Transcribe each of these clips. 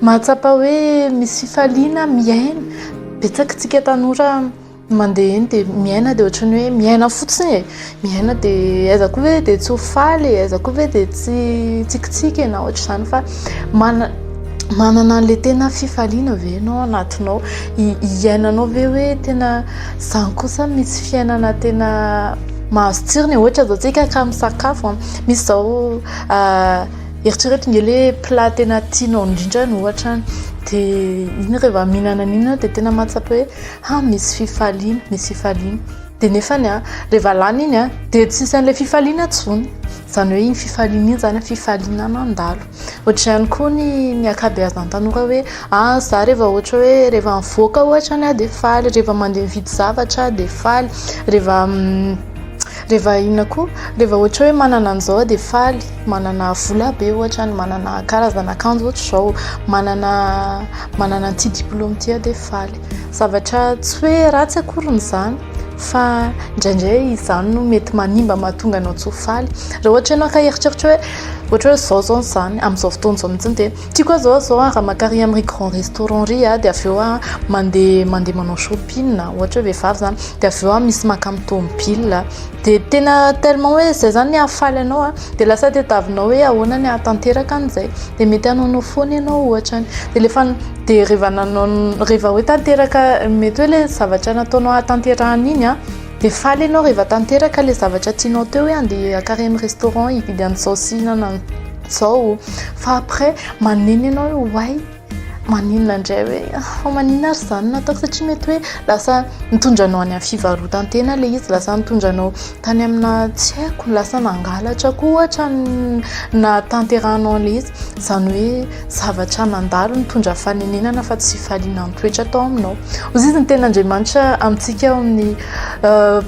Mahatsapa hoe misy fifaliana miaina. Betsaka tsika tanora mandeha eny dia miaina dia ohatran'ny hoe miaina fotsiny e, miaina dia aiza koa ve dia tsy ho faly e, aiza koa ve dia tsy hitsikitsiky e, na ohatr'izany fa mana- manana an'ilay tena fifaliana ve ianao ao anatinao? I- iainanao ve hoe tena zany kosa misy fiainana tena mahazo tsirony e, ohatra izao tsika ka misakafo a, misy izao. Eritrereto nge le plat tena tianao indrindra ny ohatra any dia iny rehefa mihinana an'iny ianao dia tena mahatsapa hoe ha misy fifaliana, misy fifaliana dia nefany a rehefa lany iny a dia tsy misy an'ilay fifaliana intsony, izany hoe iny fifaliana iny izany fifaliana mandalo. Ohatra ihany koa ny ny ankabeazan'ny tanora hoe ha za rehefa ohatra hoe rehefa mivoaka ohatra any aho dia faly, rehefa mandeha mividy zavatra aho dia faly, rehefa rehefa inona koa rehefa ohatra hoe manana an'izao aho dia faly. manana vola be ohatra ny manana karazana akanjo ohatra izao manana manana an'ity diplôme ity aho dia faly zavatra tsy hoe ratsy akory ny izany fa indraindray izany no mety manimba mahatonga anao tsy ho faly raha ohatra ianao ka eritreritra hoe ohatra hoe izao izao ny izany amin'izao fotoana izao mihitsy dia tiako aho izao aho izao aho raha maka ary amin'ireny grand restaurant ireny aho dia avy eo aho mandeha mandeha manao shopping ohatra hoe vehivavy izany dia avy eo aho misy maka amin'ny tômôbila Dia tena tellement hoe izay izany ny hahafaly anao an, dia lasa tadiavinao hoe ahoana ny hahatanteraka an'izay, dia mety hanaonao foana ianao ohatra any, dia rehefa dia rehefa nanao rehefa hoe tanteraka mety hoe ilay zavatra nataonao hahatanterahana iny an, dia faly ianao rehefa tanteraka ilay zavatra tianao teo hoe handeha hakary amin'ny restaurant hividy an'izao sy hihinana an'izao, fa après maneno ianao hoe oay. maninona indray hoe fa maninona ary izany no ataoko satria mety hoe lasa nitondra anao any amin'ny fivarotan-tena ilay izy, lasa nitondra anao tany aminà tsy haiko, lasa nangalatra koa ohatra ny nahatanterahanao an'ilay izy, izany hoe zavatra nandalo nitondra fanenenana fa tsy fahaliana nitoetra tao aminao. Hoy izy ny Tenin'Andriamanitra amintsika ao amin'ny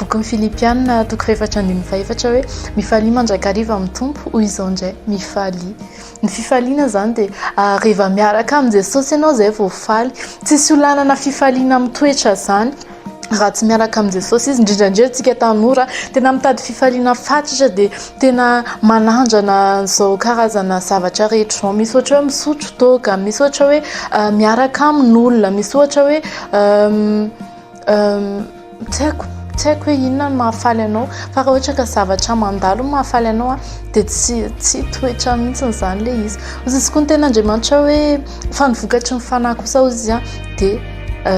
bokin'ny Filipianina toko fahefatra ambin'ny fahefatra hoe, mifalia mandrakariva amin'ny Tompo, hoy izao indray, mifalia. Ny fifaliana izany dia rehefa miaraka amin'i Jesosy ianao izay vao faly. Tsisy olanana fifaliana amin'ny toetra izany raha tsy miaraka amin'i Jesosy izy. Indrindra indrindra antsika tanora tena mitady fifaliana fatratra dia tena manandrana izao karazana zavatra rehetra izao. Misy ohatra hoe misotro toaka, misy ohatra hoe miaraka amin'olona, misy ohatra hoe Tsy haiko, tsy haiko hoe inona no mahafaly anao fa raha ohatra ka zavatra mandalo no mahafaly anao an dia tsy tsy toetra mihitsy izany ilay izy. Hoy izy koa ny tenin'Andriamanitra hoe fa ny vokatry ny fanahy kosa hoy izy dia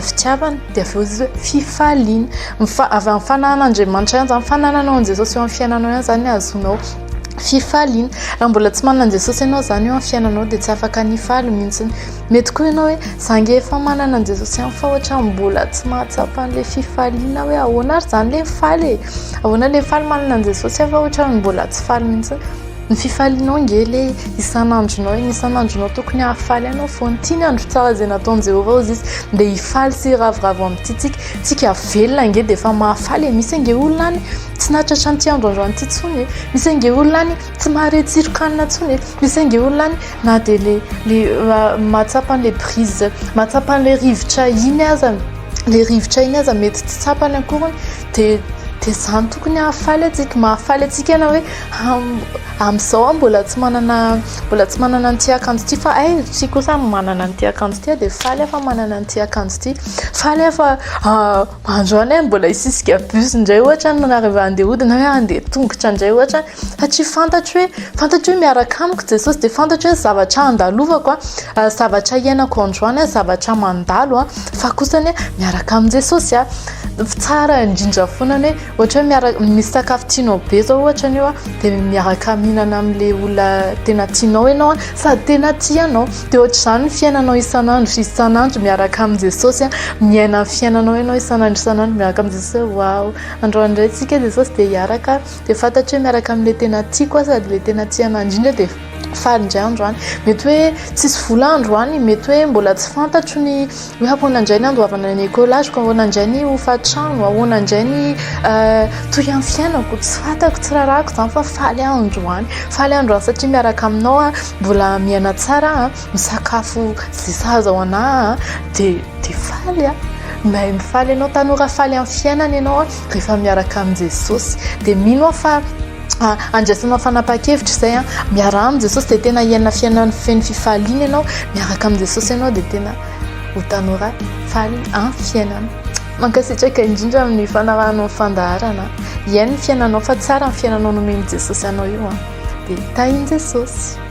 fitiavana dia avy eo izy hoe fifaliana. Ny fa- avy amin'ny fanahin'Andriamanitra ihany izany, ny fanananao an'i Jesosy eo amin'ny fiainanao ihany izany no ahazoanao fifaliana. Raha mbola tsy manana an'i Jesosy ianao izany eo amin'ny fiainanao dia tsy afaka ny hifaly mihitsy. Mety koa ianao hoe, za ange efa manana an'i Jesosy ihany fa ohatra mbola tsy mahatsapa an'ilay fifaliana hoe ahoana ary zany ilay faly e? Ahoana ilay faly manana an'i Jesosy aho fa ohatra mbola tsy faly mihitsy. Ny fifalianao ange ilay isan'andronao e, ny isan'andronao tokony hahafaly anao foana. Tia ny andro tsara izay nataon'i Jehovah hozy izy, dia hifaly sy hiravoravo amin'ity tsika. Tsika velona ange dia efa mahafaly e, misy ange olona any tsy nahatratra an'ity androandro an'ity intsony e, misy ange olona any. Tsy mahare tsiron-kanina intsony e. Misy saingy olona any na dia le le ah, mahatsapa an'ilay brise, mahatsapa an'ilay rivotra iny aza, ilay rivotra iny aza mety tsy tsapany akoriny dia dia izany tokony hahafaly antsika, mahafaly antsika na hoe am- amin'izao aho mbola tsy manana mbola tsy manana an'ity akanjo ity fa hay ry kosa manana an'ity akanjo ity aho dia faly aho fa manana an'ity akanjo ity, faly aho fa ah, Andro any mbola hisisika bus indray ohatra any manarivà handeha hody na hoe handeha tongotra indray ohatra any satria fantatro hoe fantatro hoe miaraka amiko Jesosy dia fantatro hoe zavatra handalovako a zavatra hiainako andro any a zavatra mandalo a fa kosa anie miaraka amin'i Jesosy a tsara indrindra foana ny hoe Ohatra hoe miaraka misy sakafo tianao be zao ohatra an'io a de miaraka mihinana amin'le olona tena tianao ianao a sady tena tia anao de ohatr'izany ny fiainanao isan'andro isan'andro miaraka amin'i Jesosy a miaina ny fiainanao ianao isan'andro isan'andro miaraka amin'i Jesosy hoe waouh androany indray tsika Jesosy de hiaraka de fantatro hoe miaraka amin'le tena tiako a sady le tena tia anah indrindra de faly indray andro any mety hoe tsisy vola andro any mety hoe mbola tsy fantatro ny hoe ahoana indray ny andoavana ny ecolageko ahoana indray ny hofatrano ahoana indray ny euh, toy any fiainako tsy fantako tsy rarako izany fa faly andro any faly andro any satria miaraka aminao a mbola miaina tsara a misakafo ze sahaza ao ana de de faly a mahay mifaly ianao tanora faly amin'ny fiainana ianao a rehefa miaraka amin'i jesosy de mino aho fa Ah, andraisana fanapahan-kevitra izay an, ah. miaraha amin'i Jesosy dia tena hiaina fiainana feno fifaliana ianao, miaraka amin'i Jesosy ianao dia tena ho tanora faly an fiainana. Mankasitraka indrindra amin'ny fanarahanao ny fandaharana. Hiaino ny fiainanao fa tsara ny fiainanao nomen'i Jesosy anao io an. Dia tahin'i Jesosy.